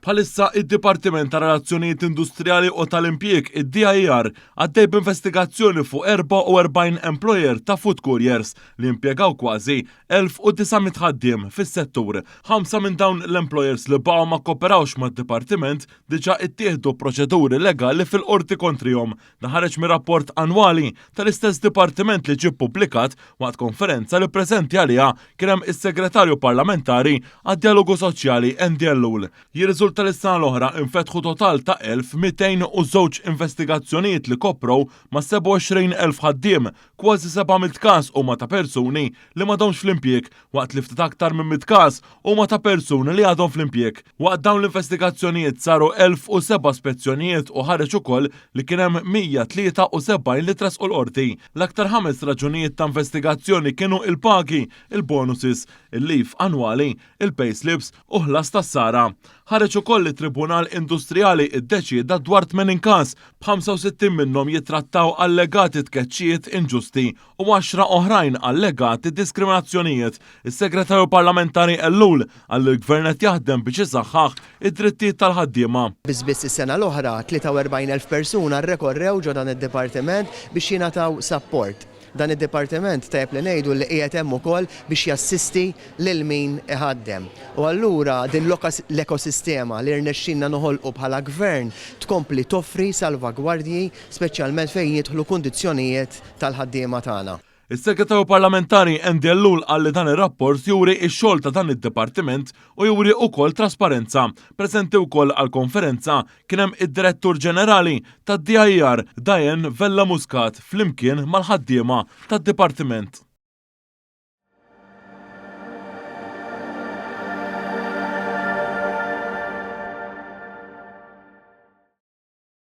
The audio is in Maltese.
Bħalissa id-Dipartiment ta' Relazzjonijiet Industrijali u tal-Impjieg, id-DIR, għaddej b'investigazzjoni fuq 44 employer ta' food couriers li impjegaw kważi 1,900 ħaddiem fis-settur. Ħamsa minn dawn l-employers li baqgħu ma kkooperawx mad-Dipartiment diġà ttieħdu proċeduri legali fil-Qorti kontrihom Dan ħareġ mir-rapport annwali tal-istess dipartiment li ġie ppubblikat waqt konferenza li preżenti għaliha kien hemm is-Segretarju Parlamentari għad-Djalogu Soċjali Andy Ellul. Jirriżulta li s-sena l-oħra infetħu total ta' 1,202 investigazzjonijiet li koprow ma' 27,000 ħaddiem, Kważi seba' mitt każ huma ta' persuni li m'għadhomx fl-impjieg, waqt li ftit aktar minn mitt każ huma ta' persuni li għadhom fl-impjieg. Waqt dawn l-investigazzjonijiet saru elf u seba' spezzjonijiet u ħareġ ukoll li kien hemm 173 li tressqu l-Qorti. L-aktar ħames raġunijiet ta' investigazzjoni kienu il-pagi, il-bonuses, il-leave annwali, il-payslips u ħlas tas-sara. Ħareġ ukoll li Tribunal Industrijali ddeċieda dwar 80 każ, b'65 minnhom jittrattaw allegati tkeċċijiet inġusti u għaxra oħrajn allegati diskriminazzjonijiet. Is-Segretarju Parlamentari Ellul qal li l-Gvern qed jaħdem biex isaħħaħ id-drittijiet tal-ħaddiema. Biss biss is-sena l-oħra, 43,000 persuna rrekorrew ġo dan id-dipartiment biex jingħataw sapport. Dan id-dipartiment, tajjeb li ngħidu, li qiegħed hemm ukoll biex jassisti lil min iħaddem. U allura din l-ekosistema li rnexxielna noħolqu bħala Gvern tkompli toffri salvagwardji speċjalment fejn jidħlu kundizzjonijiet tal-ħaddiema tagħna. Is-Segretarju Parlamentari Andy Ellul qal li dan ir-rapport juri x-xogħol ta' dan id-dipartiment u juri ukoll trasparenza, preżenti wkoll għall-konferenza Kien hemm id-Direttur Ġenerali tad-DIR Diane Vella Muscat flimkien mal-ħaddiema tad-Dipartiment.